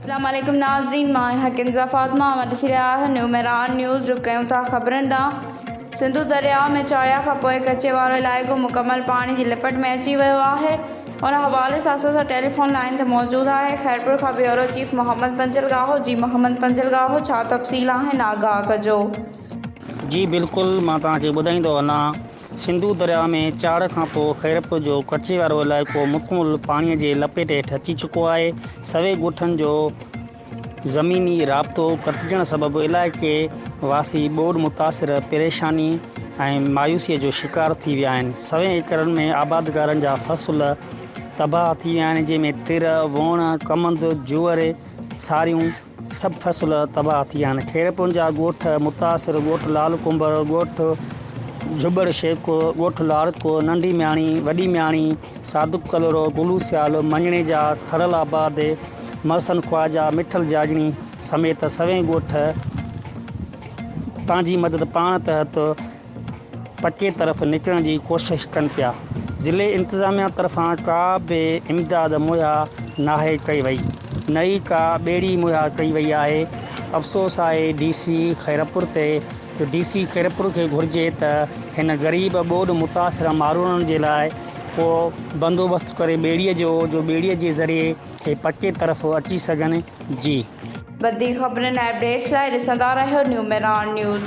اسلام عليڪم ناظرين مان آهيان ڪنزا فاطمه اوهان ڏسي رهيا آهيو نيو مهراڻ نيوز رخ ڪيون ٿا خبرن ڏانهن سنڌو درياء ۾ چاڙهيا کان پوء ڪچي وارو علائقو مڪمل پاڻي جي لپٽ ۾ اچي ويو آهي ان حوالي سان اسان سان ٽيليفون لائين تي موجود آهي خيرپور کان بيورو چيف محمد پنجلگاهو جي محمد پنجلگاهو ڇا تفصيل آهن آگاهه ڪجو جي بلڪل مان توهان کي ٻڌائيندو هلان سنڌو درياء ۾ چاڙهه کانپوء خيرپور جو ڪچي وارو علائقو مڪمل پاڻي جي لپيٽ هيٺ اچي چڪو آهي سوين ڳوٺن جو زميني رابطو ڪٽجڻ سبب علائقي واسي ٻوڏ متاثر پريشاني ۽ مايوسي جو شڪار ٿي ويا آهن سوين ايڪڙن ۾ آبادگارن جا فصل تباهه ٿي ويا آهن جنهن ۾ تر ووڻ ڪمند جوئر ساريون سڀ فصل تباهه ٿي ويا آهن خيرپور جا ڳوٺ متاثر ڳوٺ لال ڪنڀر ڳوٺ جهٻڙ شيخ ڳوٺ لاڙڪو ننڍي مياڻي وڏي مياڻي صادق ڪلهوڙو گلو سيال مڃڻي جا کڙل آباد محسن خواجا مٺل جاڄڻي سميت سوين ڳوٺ پنهنجي مدد پاڻ تحت پٽي طرف نڪرڻ جي ڪوشش ڪن پيا ضلعي انتظاميا طرفان ڪا به امداد مهيا ناهي ڪئي وئي نه ئي ڪا ٻيڙي مهيا ڪئي وئي آهي افسوس آهي ڊي سي خيرپور تي جو ڊي سي خيرپور کي گهرجي ته هن غريب ٻوڏ متاثره ماروئڙن جي لاء ڪو بندوبست ڪري ٻيڙي جو جو ٻيڙي جي ذريعي هي پٽي طرف اچي سگهن جي. وڌيڪ خبرن ۽ اپڊيٽس لاء ڏسندا رهيو نيوميران نيوز.